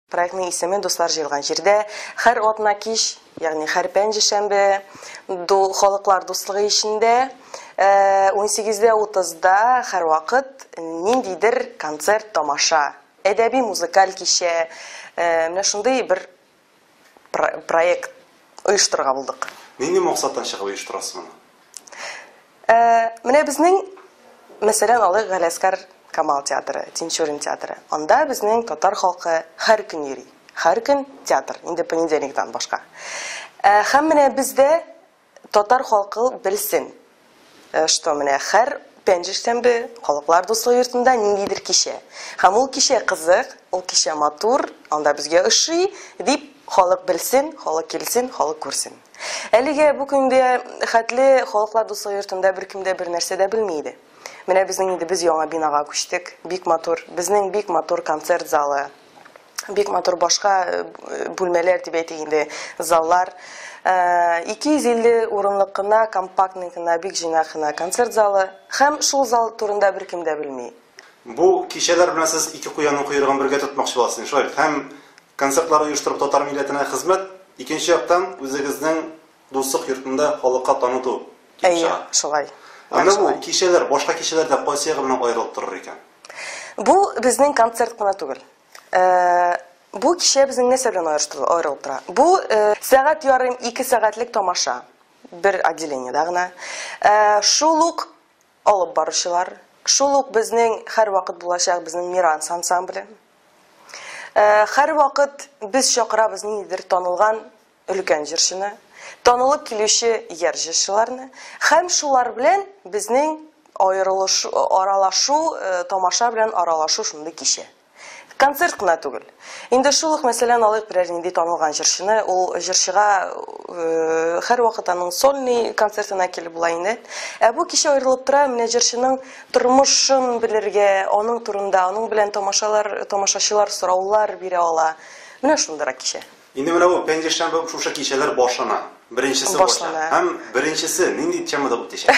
Проектның исеме Дуслар җыелган җирдә һәр атна кич, ягъни һәр пәнҗешәмбе ду, халыклар дуслыгы эчендә 18:30-да э, һәрвакыт ниндидер концерт, тамаша, әдәби музыкаль кичә, э, менә шундый бер проект оештырырга булдык. Нинди максаттан чыгып оештырасыз моны? Ә, менә безнең, мәсәлән, алыйк Галиәскар Камал театры, Тинчурин театры. Анда безнең татар халкы һәр көн йөри. Һәр көн театр, инде понедельниктан башка. Ә, һәм менә без дә татар халкы белсен, э, что менә һәр пәнҗешсәмбе Халыклар дуслыгы йортында ниндидер кичә. Һәм ул кичә кызык, ул кичә матур, анда безгә ошый, дип халык белсен, халык килсен, халык күрсен. Әлегә бу көнгә хәтле Халыклар дуслыгы йортында беркем дә бернәрсә дә белми иде. Менә безнең инде без яңа бинага күчтек. Бик матур, безнең бик матур концерт залы. Бик матур башка э, бүлмәләр дип әйтик инде, заллар. 250 э, урынлык кына, компактный гына, бик җыйнак кына концерт залы. Һәм шул зал турында беркем дә белми. Бу кичәләр белән сез ике куянның койрыгын бергә тотмакчы буласыз, шулай бит? Һәм концертлар оештырып татар милләтенә хезмәт, икенче яктан үзегезнең дуслык йортында халыкка таныту килеп Әйе, чыга. шулай. Ә менә бу кичәләр башка кичәләрдән кайсы ягы белән аерылып торыр икән? Бу безнең концерт кына түгел. Бу кичә безнең нәрсә белән аерылып тора? Бу сәгать ярым, ике сәгатьлек тамаша. Бер отделениедә гына. Шул ук Алып баручылар, шул ук безнең һәрвакыт булачак безнең Миранс ансамбле. Һәрвакыт без чакырабыз ниндидер танылган өлкән җырчыны, танылып килүче яр җырчыларны һәм шулар белән безнең аерылышу, аралашу, тамаша белән аралашу шундый кичә. Концерт кына түгел. Инде шул ук мәсьәләне алыйк, берәр нинди танылган җырчыны, ул җырчыга һәрвакыт аның сольный концертына килеп була инде. Ә бу кичә аерылып тора, менә җырчының тормышын белергә, аның турында, аның белән тамашалар, тамашачылар сораулар бирә ала. Менә шундыйрак кичә. Инде менә бу пәнҗешәмбе шушы кичәләр башлана. Беренчесе башлана. Һәм беренчесе нинди темада үтәчәк?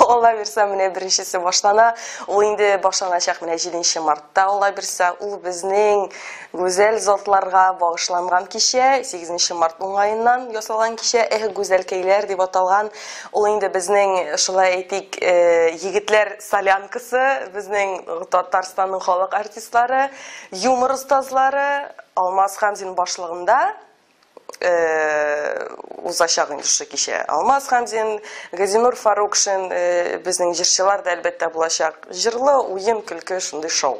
Алла бирса, менә беренчесе башлана. Ул инде башланачак менә 7 мартта, Алла бирса. Ул безнең гүзәл затларга багышланган кичә, 8 март уңаеннан ясалган кичә, Эх, гүзәлкәйләр дип аталган. Ул инде безнең, шулай әйтик, э, егетләр солянкасы, безнең Татарстанның халык артистлары. Юмор остазлары Алмаз Хамзин башлыгында узачак инде шушы кичә. Алмаз Хамзин, Газинур Фарукшин, безнең җырчылар да әлбәттә булачак. Җырлы, уен, көлке, шундый шоу.